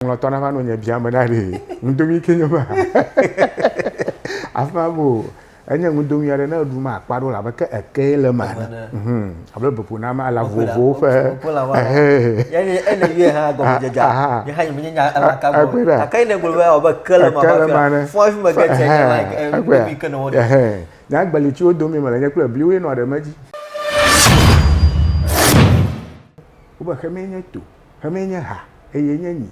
Ŋlɔtɔ na va no nye biame na ɖe ŋudomi ke nye ma afã bo enye ŋudomi aɖe ne eɖu ma akpa ɖo labe ke eke le ma ne mhm abe bepo na ma la vovovo ƒe ehe yani ene ye ha go je ja ye ha me nya ala ka bo ka kai ne gbe ba obe ke le ma ba fo afi me ke che ne ma ŋudomi ke no ehe nya gbeli ti odomi me le nye kple bliwe no ɖe me dzi Wobexeme nye to. Ƒe mee nye ha, eye nye nyi.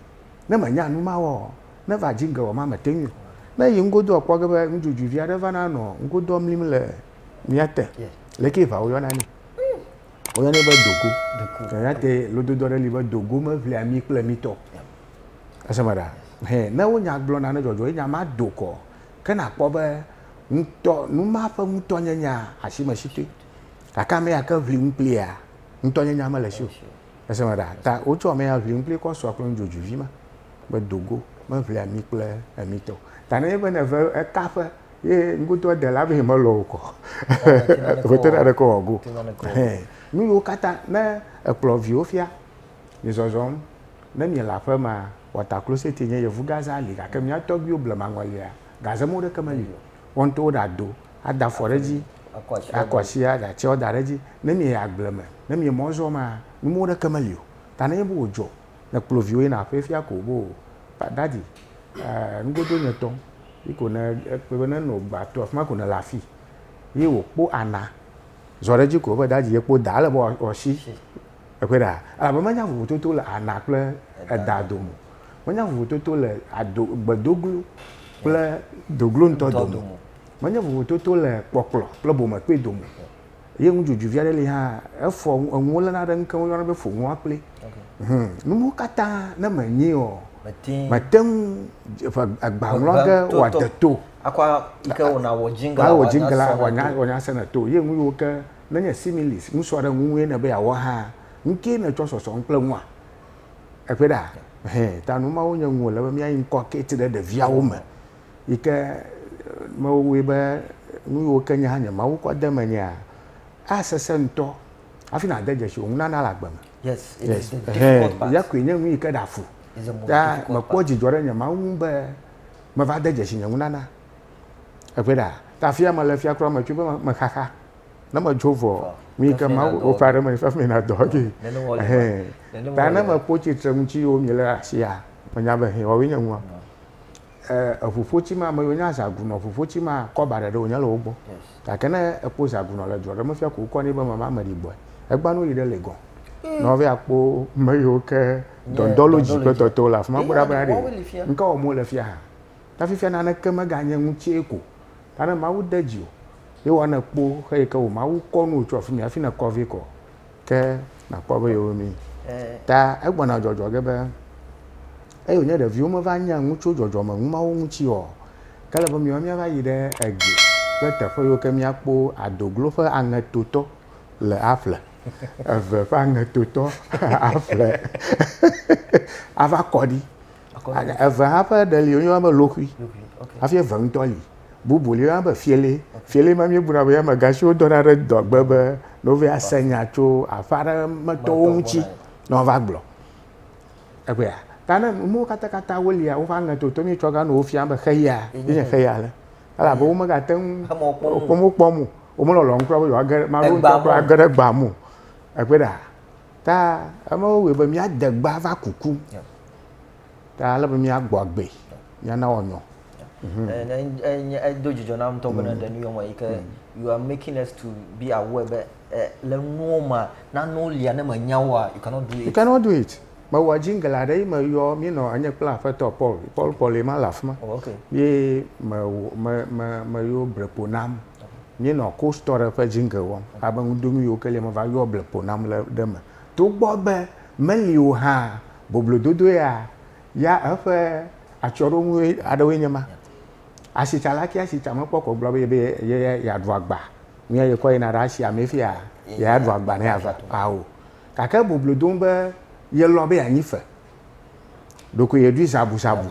Ne mènya nu ma wɔɔ, neva dzi ŋgewɔ ma mete ŋui o. Ne eyi ŋgodoa kpɔ ge be nudzodzoe vi aɖe vana nɔ ŋgodoa mlim le mía te, lekee ʋa woyɔna nɛ? Woyɔnɛ be dogo. Eyate lododo aɖe li be dogo meʋlia mi kple mi tɔ. Ese me ɖa? Hɛ, ne wonya gblɔ nane dzɔdzɔ ye nya ma do kɔ, ke nàkpɔ be ŋutɔ, nu ma ƒe ŋutɔnyenyea, asi mesi toe. Gake ame ya ke ʋli nu kplia, ŋutɔnyenyea mele esi o. Ese me ɖa, ta wotsɔ amɛ ya ʋli ŋkpli kɔ sua kple nu dzodzoe vi ma. Me do go, me ʋli ami kple ami tɔ. Ta ne nye be ne ve eka ƒe ye ŋkudo ede la be me lɔ wokɔ. Ŋe te na ɖe ke wɔ go. Nu yiwo kata ne ekplɔ viwo fia, mi zɔzɔm, ne mi le aƒe ma, wɔ ta klo sete nye yevu gaze ali gake mia tɔgbiwo ble maŋɔlia gaze mo ɖe ke me li. Wo ŋutɔ wo ɖe ado, ada afɔ ɖe edzi, akɔ asi aɖe atsiawo da ɖe edzi. Ne mieyi agble me, ne mie mɔ zɔ maa, numɔwo ɖeke meli o. Ta ne nye be wò dzɔ, ne kplɔ viwo yina aƒee fia ko be o, daddy, eh, nugodo nye tɔ, yi ko ne ekpɔe be ne nɔ gba to afima ko ne le afi. Ye wò kpɔ ana zɔ ɖe edzi ko be daddy ye kpɔ da, ele be wɔ asi Ekpɔe ɖa, elabe menya vovototo le ana kple eda dome o, menya vovototo le ado, gbedoglo kple doglo ŋutɔ dome o, menya vovototo le kpɔkplɔ kple bomekpe dome o. Ye nudzodzoevi aɖe li hã, efɔ enuwo léna ɖe ŋukeŋ woyɔna be foŋua kple. Hum, nu mawo katã ne menyae o, mete ŋu ƒe agba ŋlɔ ge wòade to. Akɔ ŋke wò na wò jingle la wòanya sena to. Ye nu yiwo ke Menye similes, nusrɔ̃ɖeŋu ŋue nèbe yeawɔ hã? Nukee nètsɔ sɔsɔ nu kple nua? Eƒe ɖa? Hẽ, ta nu mawo nye nu wòle be míayi ŋkɔ kate ɖe ɖeviawo me yi ke mewɔe be nu yiwo ke nye hã nye Mawu kɔ de menyea, asesẽ ŋutɔ hafi nàde dzesi wò nunana le agbe me. Yes, it is the Hẽ, difficult part. ya koe nye nu yi ke ɖea fu. It's the most Ta difficult mekpɔ part. dzidzɔ ɖe nye Mawu ŋu be meva de dzesi nye nunana. Eƒe ɖa. Ta afi ya mele fia kura metso be mexaxa. Ne metso vɔ, nu yi ke Mawu wɔ ƒe aɖe me fia mena dɔ ge. Ɛhɛn. Ta ne mekpɔ tsitre ŋuti yiwo miele ɖe asia, menya be hɛn woawoe nye nua. Eŋuƒotsi ma, ame yiwo nye azagunɔ ŋuƒotsi ma, kɔba ɖeɖe wonye le wo gbɔ. Gake ne ekpɔ zagunɔ le dua ɖe me fia ko wokɔ nɛ be mama ame ɖi gbɔe. Egbea ne woyi ɖe Legon, ne wova yi akpɔ ame yiwo ke dɔndɔlodzi kple tɔtɔwo le afi ma kpɔ ɖa be aɖee. Ŋkawɔm wole fia hã. Ta fifia naneke meganye ŋutsee ko. Ta ne Mawu de dziwò, ye woanè kpo xe yi ke wò Mawu kɔ nuwò tso afimɛ hafi nèkɔ vɛ kɔ. Ke nàkpɔ be yewo mi. Ta egbɔna dzɔdzɔ ge be, eyi wònye ɖeviwo meva nya nu tso dzɔdzɔme nu mawo ŋuti ɔ, ke ele be miwo miava yi ɖe egie kple teƒe yiwo ke mia kpo adoglo ƒe aŋetotɔ le aƒle eve ƒe aŋetotɔ aƒle ava kɔɖi. Eve hã ƒe ɖe li wonyɔna be loxui hafi eve ŋutɔ li. Bubu li yɔna be fiele. Fiele ma míebuna be ame gã si wodɔna ɖe dɔgbe be ne wova ase nya tso aƒe aɖe me tɔwo ŋuti ne woava gblɔ. Egbea ta ne nuwo katakata wolia woƒe aŋe toto míetsɔ gã nɔ wo fiam be xeya ye nye xeya le. Elabe wo megate ŋu wokpɔm kpɔm o. Wo melɔlɔ̃m kura be yewoage ame aɖewo ŋutɔ kura age ɖe gbea me o. Ekpɔe ɖa? Ta eme wowɔe be míade gbe ava kuku. Ta ale be míagbɔ agbe, míana wɔnyɔ. Edo dzidzɔ nam ŋutɔ bena ɖe nu yɔ me yi ke you are making us to be aware be le nuwo ma nanewo lia ne menya woa you cannot do it. You cannot do it. Mewɔ jingle aɖe yi meyɔ míenɔ enye kple aƒetɔ Paul Paul Paul ye ma le afi ma. Oh okay. Ye me me me meyo brepo nam. Míenɔ Coast Story ƒe jingle wɔm abe ŋudonu yiwo ke lia meva yɔa ble ƒo nam le ɖe me. Togbɔ be meli o hã, boblododo ya ya eƒe atsyɔ̃ɖonu aɖewoe nye ma. Asitsala ke asi tsa mekpɔ ko gblɔ be yebe ye ya yeaɖu agba nɛ yekɔ yina ɖe asia mee fia yeaɖu agba nɛ ava ao. Gake boblodonu be yelɔ̃ be yeanyi fe ɖokoe yɛ ɖui zabuzabu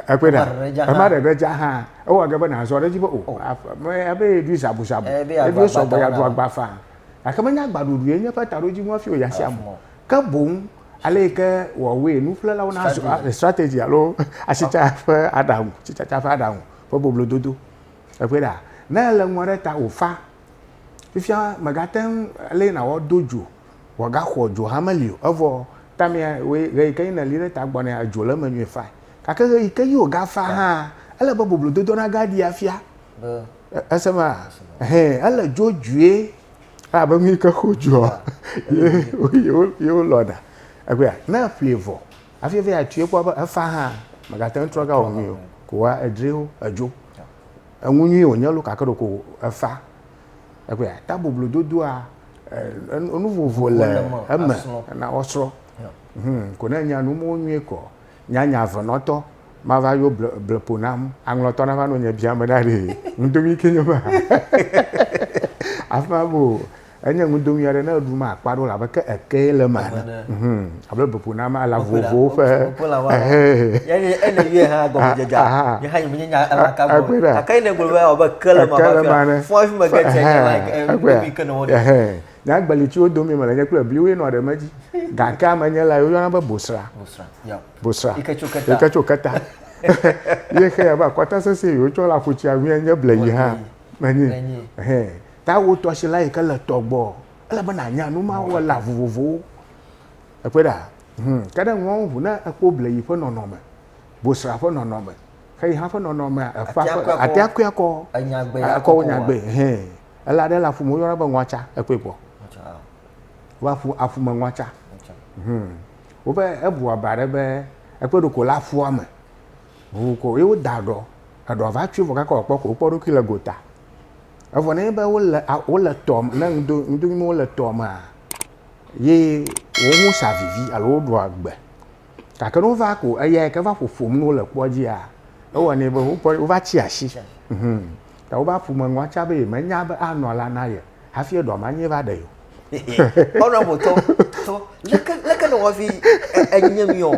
ekpe ɖa ema ɖe ɖe dza hã ewɔ ge be nazɔ ɖe edzi be o oh. ame abe yɛ ɖui zabuzabu eɖui sɔgbɔ ya ɖu agba faa gake menye agbaɖuɖu yɛ nye eƒe taɖodzi ŋu hafi wòya sia mo ke boŋ ale yi ke wɔwɔe nuƒlelawo na eh, strategy alo asitsa ƒe aɖaŋu tsitsatsa ƒe aɖaŋu ƒe boblododo ekpe ɖa ne ele ŋua ɖe ta wòfa fifia mègate ŋu ale yi nawɔ do dzo wòagaxɔ dzo hame li o, evɔ tamea woe ɣeyi ke yí nèli ɖe ta gbɔ nɛ adzo le eme nyuie fae. Gake ɣeyi ke yí wògafa hã, ele be boblododo nagaɖi afia. Èse ema? Ɛhɛ, ele dzodzoe abe nu yi ke xɔ dzoa ye wolɔna. Ekpɔea? Ne èƒlee vɔ hafi va yi atsoe kpɔ be efa hã, mègate ŋu trɔ gawɔ nui o, ko wa edri wo edzo. Enu nyui wònye loo gake ɖeko efa. Ekpɔe ya ta boblododoa eh, enu vovo le eme na wɔsrɔ̃. Hmm, ko ne nya nu mo nyuie kɔ, nya nya venɔtɔ ma va yo ble ble po nam, aŋlɔtɔ na va no nye biame ɖa ɖe. Ŋdomi ke nyo ba. Afima bo enye ŋdomi aɖe ne eɖu ma akpa ɖo labe ke eke le ma. Hmm. Alo bebo na ma la vovovowo ƒe nyagbeli tsiwo domi mele nye kple bliwoe nɔ ɖeme dzi gake ame nye la woyɔna be bosra bosra yike tso keta ye xe ya be akɔta sese yi wotsɔ la ƒutsi awi nye ble yi hã menyi ta wotɔ si la yike le tɔgbɔ Ele be nànya nu ma wɔla vovovowo. Ekpɔe ɖa, hum, ke ɖe ŋuawo ŋu ne ekpɔ bleyi ƒe nɔnɔme, bosra ƒe nɔnɔme, xeyiha ƒe nɔnɔmea, eƒa Atea ƒe, kɔe akɔ. atea kɔe akɔ, Enya gbe ya akɔ wonya kɔkɔa. gbe, hẽ. Ela ɖe le aƒu me woyɔna be ŋɔatsa, ekpɔe kpɔ. Ŋɔtsa, ah, Wobe aƒu, aƒu me ŋɔatsa. ŋɔtsa. Hum. Wobe ebu aba ɖe be ekpɔe ɖo ko le aƒua me. Ŋu ko ye woda eɖɔ, eɖɔ va tsoe vɔ kaka wòakpɔ ko wokpɔ eɖokui le gota. Evɔ nenye be wole a wole tɔ me ne ŋdo ŋdo ŋdo wole tɔ mea ye wo ŋu sa vivi alo woɖu agbe. Gake ne wova ko eya yi ke va ƒoƒom ne wole kpɔ dzia ewɔnɛ be wo pɔ wova tsi asi. Hum ta wobe aƒume nua tsa be yemenya be anɔ la na ye hafi eɖɔ ma nye va ɖe ye o. honorable tɔ tɔ leke leke nɔ wafi enye mi o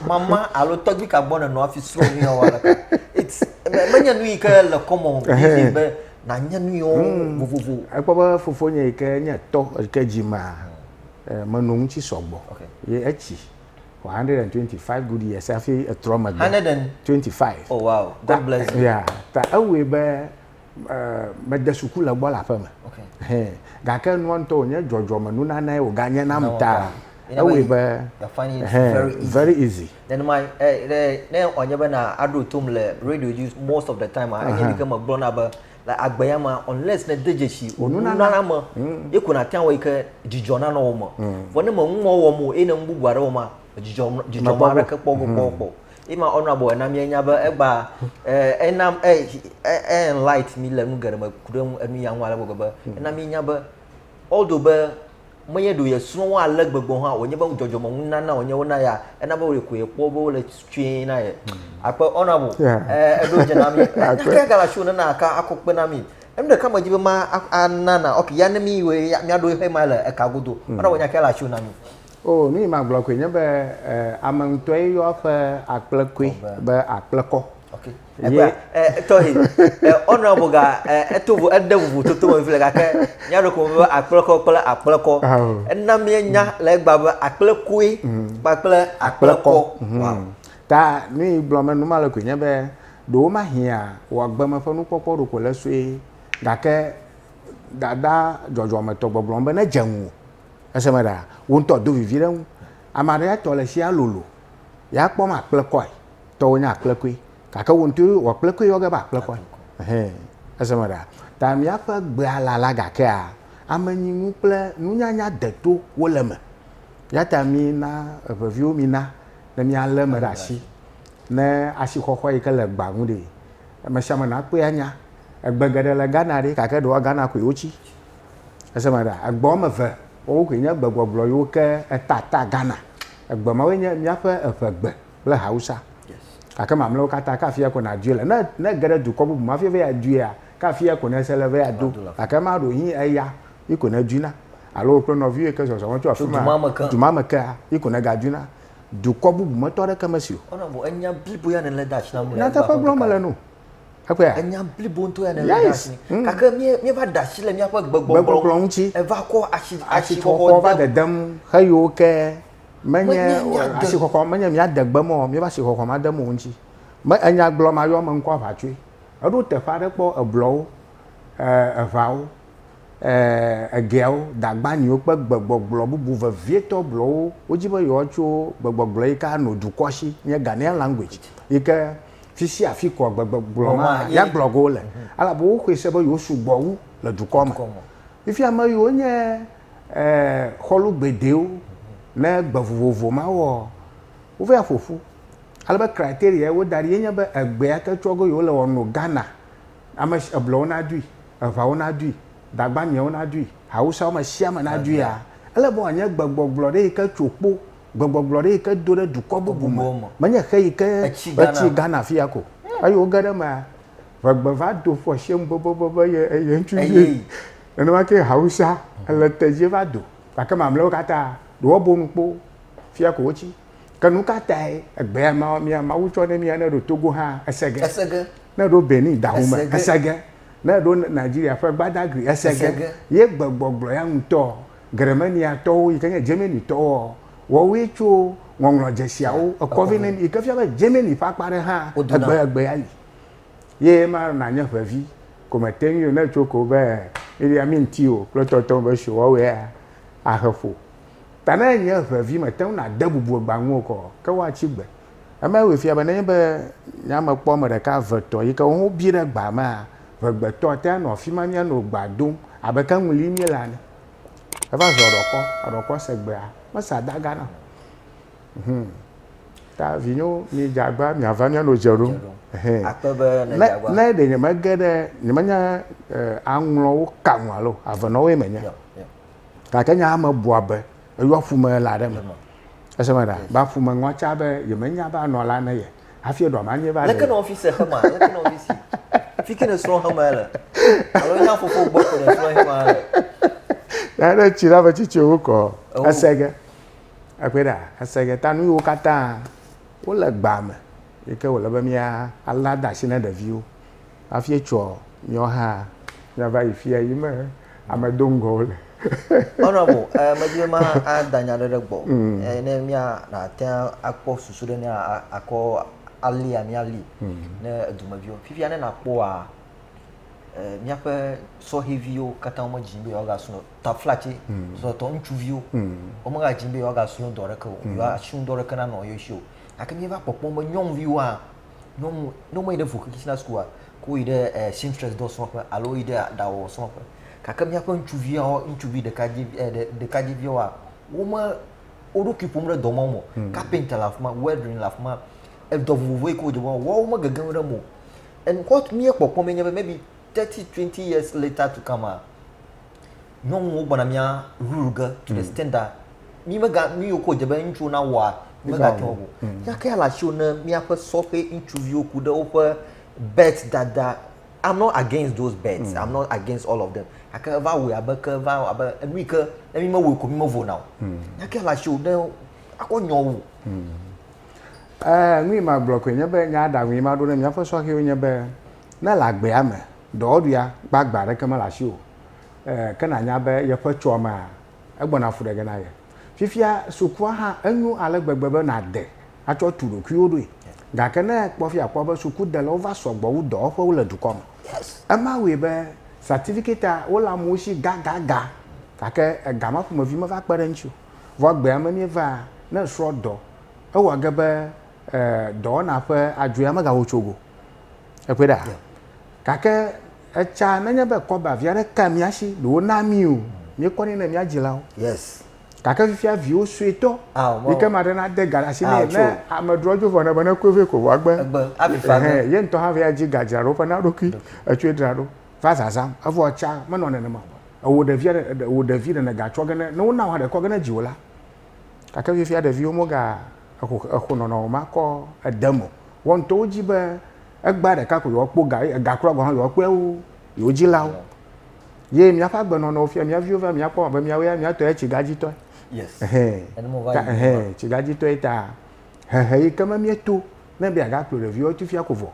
mama alo tɔgbi ka gbɔ nɔ afi srɔ mi o wala it's menye nu yi ke le kɔmɔ bi be na nye nu yo hmm. vovovo ekpɔ be fofo nye yi ke nye tɔ yi ke dzi ma eh, menɔ ŋutsi sɔgbɔ ye etsi for 125 good years afi etrɔ megbe 125 oh wow god bless you yeah ta ewɔe be mede suku le gbɔ le aƒe me gake nua ŋutɔ wònye dzɔdzɔme nunanae wòganye nam ta ewɔe be very easy nenema ne wòanye bena aɖo tom le radio dzi most of the time a enye ɖike megblɔna be le agbe ya ma unless ne de dzesi wonunana me hmm. ye ko nate ŋu yi ke dzidzɔ nanɔ wo me hmm. vɔ ne meŋumɔ wɔm o eye ne nu bubu aɖe wɔm a dzidzɔ dzidzɔ ma aɖeke kpɔ kpɔ kpɔ Ema honorable ena míenya be egba ena enlight mi le nu geɖe me ku ɖe enu ya ŋu ale gbegbe be hmm. ena míenya be although be menye ɖo yesrɔ̃ wo ale gbegbe hã wònye be dzɔdzɔme ŋu nana wònye wona ya ena be wòle ko yekpɔ be wole tsoe na ye hmm. akpe honorable eɖo dze na mi kaka gala show nana aka akɔ kpe na mi enu ɖeka me di be ma anana ok ya ne mi wɔ miaɖo exe ma le eka godo hmm. honorable nya kaka la show na mi. O, nu yi magblɔ koe nye be e, ame ŋutɔe yɔ eƒe akplekɔe be akplekɔ. Okay. Ye... Tɔhi, honorable ga eto vo ede vovototo me vile gake nya ɖe ko be akplekɔ kple akplekɔ. Ena mienya le egba be akplekɔe mm. kpakple akplekɔ. Mm-hmm. Ta nu yi gblɔ me nu ma le koe nye be ɖewo ma hiã wɔ agbeme ƒe nukpɔkpɔ ɖo ko le sue gake dada dzɔdzɔmetɔ gbɔgblɔ be ne dze ŋu Eseme ɖaa, wò ŋutɔ do vivi ɖe eŋu. Ame aɖe ya tɔ le tsia lolo, ya kpɔm akplekɔe. Tɔwò nye akplekɔe, gake wò ŋutɔ wò akplekɔe yɔ ge be akplekɔe. Ɛhɛ, eseme ɖaa. Ta míaƒe gbea lala gakea, amenyinu kple nunyanya deto wo le eme. Eyata mina eŋeviwo mina ne míalé eme ɖe asi, ne asixɔxɔ yi ke le gbea ŋu ɖee. Amesiame nakpɔe anya. Egbe geɖe le Ghana ɖi, gake ɖewoa Ghana koe wotsi. Ese ma ɖa, egbe woame eve woawo koe nye gbegbɔgblɔ yiwo ke eta ta Ghana. Egbe mawoe nye míaƒe eŋegbe kple Hausa. Gake mamlɛawo katã, ke afia ko nàdoe le. Ne, ne ège ɖe dukɔ bubu me hafi va adoea, ke afia ko nèse le va ado. Gake ema ɖo yí eya yi ko nèdoena. Alo wò kple nɔviwò yi ke zɔzɔm tso afi ma du ma me kea, yi ko nègadoena. Dukɔ bubu me tɔ aɖeke mesi o. Nyateƒe gblɔm mele no. Ekpɔa? Enya blibo ŋutɔ ya nèlé ɖe asi. Mm. Gake mí- míeva da asi le míaƒe Gbegbɔgblɔ gbegbɔgblɔ ŋuti. Eva kɔ asi Asixɔxɔ va asixɔxɔ de dedem xeyiwo ke menye Menye míade- asixɔxɔ menye míade gbe me o, míeva asixɔxɔ ma dem wo ŋuti. Me enya gblɔ ma yɔ me ŋkɔ aʋa tsoe. Eɖo teƒe aɖe kpɔ eblɔwo, eh, eʋawo, eh, egeawo, dagbaniwo kple gbegbɔgblɔ bubu vevietɔ blɔwo. Wodi be yewoatso gbegbɔgblɔ yi ke anɔ dukɔ si nye Ghanaian language yi ke fi sia afi kɔ gbegbegblɔ ma ya gblɔ go le ala bo xwe se be yo su gbɔ wu le dukɔ me fi fi ame yo nye eh xɔlu gbedewo ne gbe vovovo ma wɔ wo ve ya ƒoƒu ale be criteria wo da ɖi nye be egbe ya ke tsɔ go yo le wɔ no Ghana ame si eblɔ wo na dui eva wo na dui dagba miɛ wo na dui awusa wo me sia me na dui ya ele be wɔ nye gbegbɔgblɔ ɖe yi ke tso kpo gbɔgbɔgblɔ ɖe yi ke do ɖe dukɔ bubu me menye xe yi ke etsi Ghana fi ya ko eye woge ɖe mea ʋegbe va do ƒo asiem bobobo be ye eye ŋutsu ye nenema ke Hausa ele tedzi va do gake mamleawo katã ɖe woabo nu kpo fia ko wotsi ke nu ka tae egbe ya ma mia Mawu tsɔ ne mia ne ɖo Togo hã ese ge ese ge ne ɖo Benin dahume ese ge ne ɖo Nigeria ƒe Gbadagri ese ge ye gbegbɔgblɔ ya ŋutɔ Germaniatɔwo yi ke nye Germanitɔwoa, woawoe tso ŋɔŋlɔ dzesiawo ekɔ vɛ nɛ yi ke fia be Germany ƒe akpa aɖe hã egbe egbe ayi. Ye ema nanye ʋevi ko mete ŋui o ne etso ko be Idi Amin ti o kple tɔtɔwo be sho woawoe ahe ƒo. Ta ne enye ʋevi mete ŋu nade bubu egba ŋu o kɔ ke woatsi gbe. Eme wòe fia be nenye be nye ame kpɔ ame ɖeka, eve, etɔ̃ yi ke wo hã wobi ɖe gbaa mea, ŋegbetɔ ate ŋu anɔ afi ma míanɔ egbea dom abe ke ŋu lim míele ene. Eva zɔ ɖɔkɔ, eɖɔkɔ se gbea, mesea dagã na o. Hum. Ta vinyewo, midze agbagba be miava míanɔ dze ɖom. Hɛn. Akpe be Ne, nèdze agbagba. ne ɖe nyemege ɖe, nyemenye e, aŋlɔwo ka nu alo avenɔwoe menye, Yɔ, yɔ. gake nye ame bua be Eyɔ ƒume la ɖe me. Ese me ɖa. Ba ƒume ŋɔ tsa be yeme nya ba nɔ la ne ye. Afi eɖɔ ma nye ba. Leke nɔ fi se xema, leke nɔ fi si. Fiti ne srɔ xema ele. Alo nya fofo gbɔ ko ne srɔ xema ele. Ya ne tsi la be tsi tsi wo kɔ. Ese ge. Ekpe ɖa. Ese ge. Ta nu yiwo katã wole gba me. Yike wole be mia ala dasi ne ɖeviwo. hafi etsɔ nyɔ ha miava yi fia yi me ame do ŋgɔ wo le. Honorable, eh, medi be ma ada nya ɖe ɖe gbɔ. Mm. Eh, ne mia na te akpɔ susu ɖe ne akɔ ali ami ali mm. ne edumeviwo. Fifia ne na kpɔ a eh, mia pe sɔheviwo kata ome jin be yoga suno ta flache mm. so to nchu viwo. Mm. Ome ga jin be yoga suno dore ke o. Mm. Yoga suno dore ke na no yoshio. Ake mia va kpɔ kpɔ me nyong viwa. Ne wome- ne womeyi ɖe vocational school-a, ke woyi ɖe ɛɛ seamstress dɔ srɔƒe alo woyi ɖe aɖawɔwɔ srɔƒe. Gake míaƒe ŋutsuviawo, ŋutsuvi ɖekadze vi ɛɛ ɖekadzeviawoa, wome wo ɖokui ƒom ɖe dɔ mawo me o. Kapenta le afi ma, weldering le afi ma, edɔ vovovo yi ke wodze be woawɔ, woawo megege nu ɖe eme o. And what míekpɔkpɔ mɛ nye be maybe thirty, twenty years later to come-a, nyɔnuwo gbɔna mía rule ge to the mm. standard mi mega nu yiwo ko dze be ŋutsuwo na wɔa megatsɔ o mm. yake ala siwo ne míaƒe sɔƒe ŋutsuviwo ku ɖe woƒe bet dada i'm not against those bets mm. i'm not against all of them gake eva wɔ abe ke eva wɔ abe enu yi ke ne mi mewɔ ko mi mevo na o mm. yake ala siwo ne akɔ nyɔ wo. Mm. Eh, nu yi ma gblɔ koe nye be nya aɖaŋu yi ma ɖo ne míaƒe sɔhɛwo nye be ne le agbea me dɔwɔɖuia gbagba aɖeke mele asi o eh, ke nànya be yeƒe tsoa mea, egbɔna fu ɖe ge na ye. Fifia sukua hã, enyo ale gbegbe be nàde atsɔ tu ɖokuiwò ɖoe. Gake ne èkpɔ fi akpɔ be sukudelawo va sɔgbɔ wu dɔwɔƒewo le dukɔ me. Ema wɔe be satifiketia wole amewo si gagaga, gake ega ma ƒomevi meva kpe ɖe eŋuti o. Vɔ egbea me míevaa, ne èsrɔ̃ dɔ, ewɔ ge be eh, dɔwɔna ƒe adzoea megawɔ tso go. Èkpɔe ɖa? Gake Etsa nenye be kɔba vi aɖe ka mía si ɖe wona mí o, míekɔnɛ ne mía dzilawo. Yes. Gake fifia viwo suetɔ Ao, yi ke maɖe nade ga ɖe asi nɛ. Ao, tso. Ne ame drɔ dzo vɔ ne be nekue vɛ ko vɔ egbe. Egbe, hafi fa ge. Ehɛn, ye ŋutɔ hã vɛ adzi ga dzra ɖo ƒe na eɖokui. Etsoe dra ɖo va zazãm. Evɔ etsa menɔ nenema o. Ewò ɖevia ɖe, ewò ɖevi ɖe nègatsɔ ge ne, ne wona wò hã ɖe kɔ ge ne dziwò la, Gake fifia ɖeviwo mega exo exo nɔnɔ o ma kɔ ede mo wɔ ŋutɔ wo dzi be egbea ɖeka ko yewoa kpɔ ga ye ega kura gɔn hã yewoa kpɔe wu yewo dzilawo. Ye mía ƒe agbe nɔnɔ fia mía viwo va mía kpɔ abe mía woe mía tɔ ye tsiga dzi tɔe. Ɛhɛ ta ɛhɛ tsiga dzi tɔe ta hehe yi ke me mía to ne be aga kplɔ ɖeviwo tu fia ko vɔ.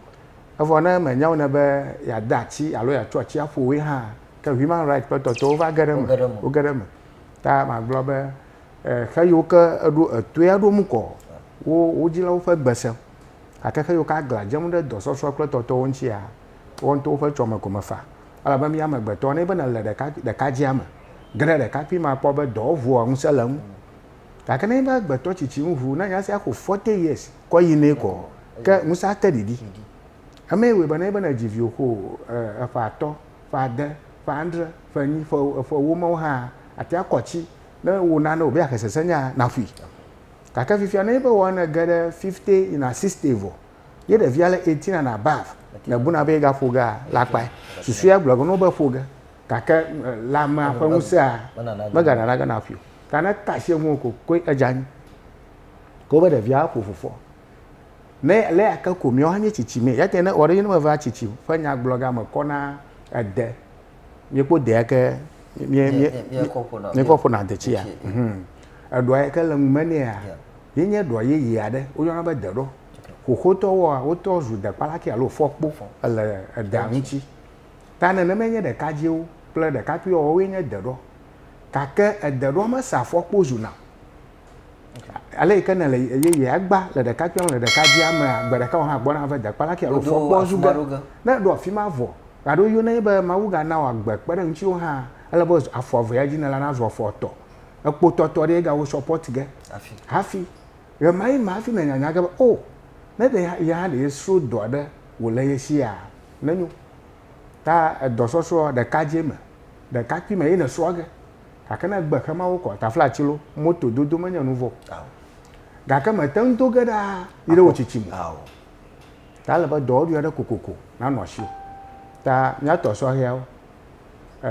Evɔ ne me nya wo ne be ya de atsi alo ya tsɔ atsi aƒo woe hã ke human right ƒe tɔtɔwo va ge ɖe eme wo ge ɖe eme. Ta magblɔ be, xe yiwo ke eɖo etoe aɖo nu kɔ wo wo dzilawo ƒe gbe se. Gake xe yiwo ke aglã dzem ɖe dɔsɔsɔ kple tɔtɔwo ŋutia, woawo ŋutɔwo ƒe tsɔme ko mefa. Elabe mía amegbetɔ, ne be nèle ɖekakpui ɖekadzea me, ge ɖe ɖekakpui me akpɔ be dɔwo ŋua ŋusẽ le eŋu. Gake ne nye be agbetɔ tsitsi ŋu ŋu, ne nya sia xo forty years kɔ yi nɛ kɔ, ke ŋusẽ ate ɖiɖi. Emee wɔe be ne nye be nèdzi viwò xo eƒe atɔ, ƒe ade, ƒe adre, ƒe enyi, ƒe ƒe ewo mawo hã ate ŋu akɔ atsi ne wò nane wòbe yeaxe sesẽnya naƒui. Gake fifia nenye be wɔ nège ɖe fifty yina sixty vɔ ye ɖevia le eighteen and above nèbuna be yegaƒo gea, la kpae. Susua gblɔ ge na wò be ƒo ge gake lãmea ƒe ŋusẽa meganana ge naƒui o. Ta ne ete asi eŋu o ko koe edze anyi. Ke wobe ɖevia aƒo fofo. Ne le ake ko mìɔ hanye tsitsi mɛ. Yate ne ɔɖe ne meva tsitsi ƒe nyagblɔga me kɔ na ede. Mìkpo de yake mìe mìe mìkɔ ƒona ade tsia. Eɖɔa yake le ŋu me nɛa ye nye ɖɔ yeye aɖe wo yɔna be deɖɔ. Xoxotɔ woa wotɔ zu dekpalaki alo fɔkpo ele edea ŋuti. Ta nene me nye ɖekadziwo kple ɖekakpuiwo woe nye deɖɔ. Gake edeɖɔ me sa fɔkpo zuna ale yi ke ne le yeye agba le ɖeka kpɔm le ɖeka dzi ame gbe ɖeka wo hã gbɔ na ve dekpa la ke alo fɔ kpɔ zu ge ne ɖo afi ma vɔ gado yo ne be ma wu ga na wa gbe kpe ɖe ŋuti wo hã ele be afɔ ave ya dzi ne la na zɔ fɔ tɔ ekpo tɔ tɔ ɖe ga wo support ge afi afi ye ma yi ma afi ne nyanya ge be o oh, ne de ya ya de so do aɖe wo le ye si ya ne nyu ta edɔ sɔsɔ ɖeka dzi me ɖeka kpi me yi ne so ge Gake ne gbe xe mawo kɔ, taflatsi lo, moto dodo menye nu vɔ o. Gake mète ŋu do ge ɖaa yi ɖe wò tsitsi me o. Ta ele be dɔwɔɖui aɖe kokoko nanɔ asiwò. Ta mía tɔ sɔhɛawo, e,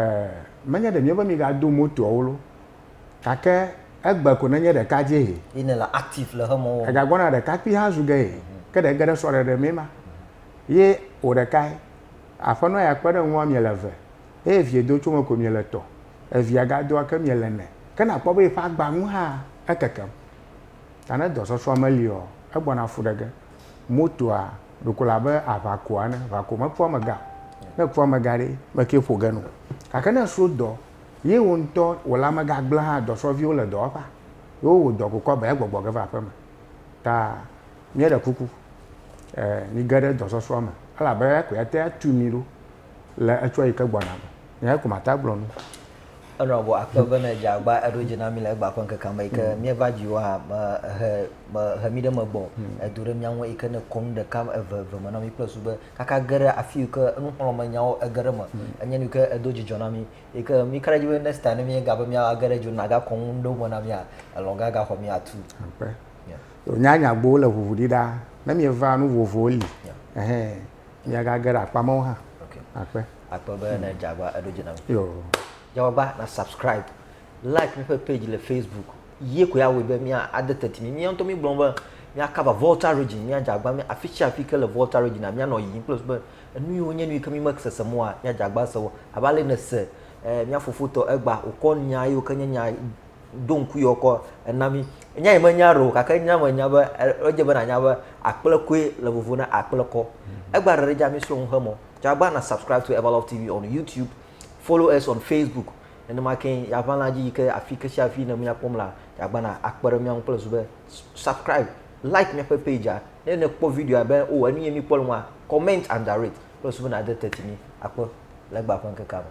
menye ɖe míebe migado motoawo lo, gake egbe ko nenye ɖeka dzie hɛ. Ye nèle active le xemɔ wɔm. Egagbɔna ɖekakpui hã zu ge hɛ. Ke ɖe ege ɖe srɔ̃ɖeɖe mee ma. Ye wò ɖekae. Aƒenɔ ya kpe ɖe ŋuwòa miele eve. eye vie do tso me ko miele tɔ. Evia ga doa ke miele nɛ. Ke nakpɔ be yeƒe agba ŋu hã ekekem. Ta ne dɔ sɔsɔa me li ɔ, egbɔna fu ɖe ge. Motoa ɖo ko le abe aʋa koa ene. Aʋa ko me kpɔ amega o. Ne ekpɔ amega ɖe, me ke ƒo ge no. Gake ne esro dɔ, ye wo ŋutɔ wòle amega gble hã, dɔsrɔviwo le dɔwɔƒea, ye wo wo dɔ ko kɔ be egbɔgbɔ ge va aƒe me. Ta mieɖe kuku, e, mi ge ɖe dɔ sɔsɔa me, elabe eya koe ate atu mi ɖo. le etsua yi ke gbɔna me. Eyae ko mate agblɔ nu. Enɔ gbɔ akpe be ne dze agba eɖo dzi na mí le egbea ƒe ŋkekea me yi ke mm. míeva dziwò hã me he me he mí ɖe megbɔ mm. edo ɖe mía ŋu yi ke ne kɔ nu ɖeka eve eve me na mí kple su be kaka ge ɖe afi yi ke nuxlɔ̃me nyawo ege ɖe me mm. enye nu yi ke edo dzidzɔ na mí yi ke mí ka ɖe dzi be next time ne mí ga be mía age ɖe dzo na ga kɔ nu ɖewo me na mía elɔ ga ga xɔ mí atu. Nya nyagbowo le ʋuʋu ɖi ɖa ne míeva nu vovovowo li. Yeah. Miagage ɖe akpa mawo hã. Okay. Akpe. Akpe be ne dzagba eɖo dzi na mi. Yo. Dzagba na subscribe. Like míƒe page le Facebook. Ye koe awɔe be mía ade teti mi. Mía ŋutɔ mi gblɔ be mía cover Volta region, mía dzagba mi afi sia afi ke le Volta region a mía nɔ yiyim kple be enu yiwo nye nu yi ke mi me sese mɔ a mía dzagba se wo. Abe ale ne se eh, mía fofo tɔ egba wokɔ nya yiwo ke nye nya do ŋku yewo kɔ ena mí. Nya yi menya ɖe o gake nya menya be edze be nànya be akplekoe le vovo na akplekɔ. Egba ɖeɖe dza mísrɔ̃ nu hemɔ. Tsɔ agba na subscribe to Everlove TV on YouTube, follow us on Facebook. Nenema ke yàʋã la dzi yi ke afi ke sia afi ne míakpɔm la, agba na akpe ɖe mía ŋu kple zu be subscribe, like míaƒe page-a. Ne nèkpɔ video-a be o enu ye míkpɔ le nua, comment and rate kple zu be nàde teti mí. Akpe le egba ƒe ŋkekea me.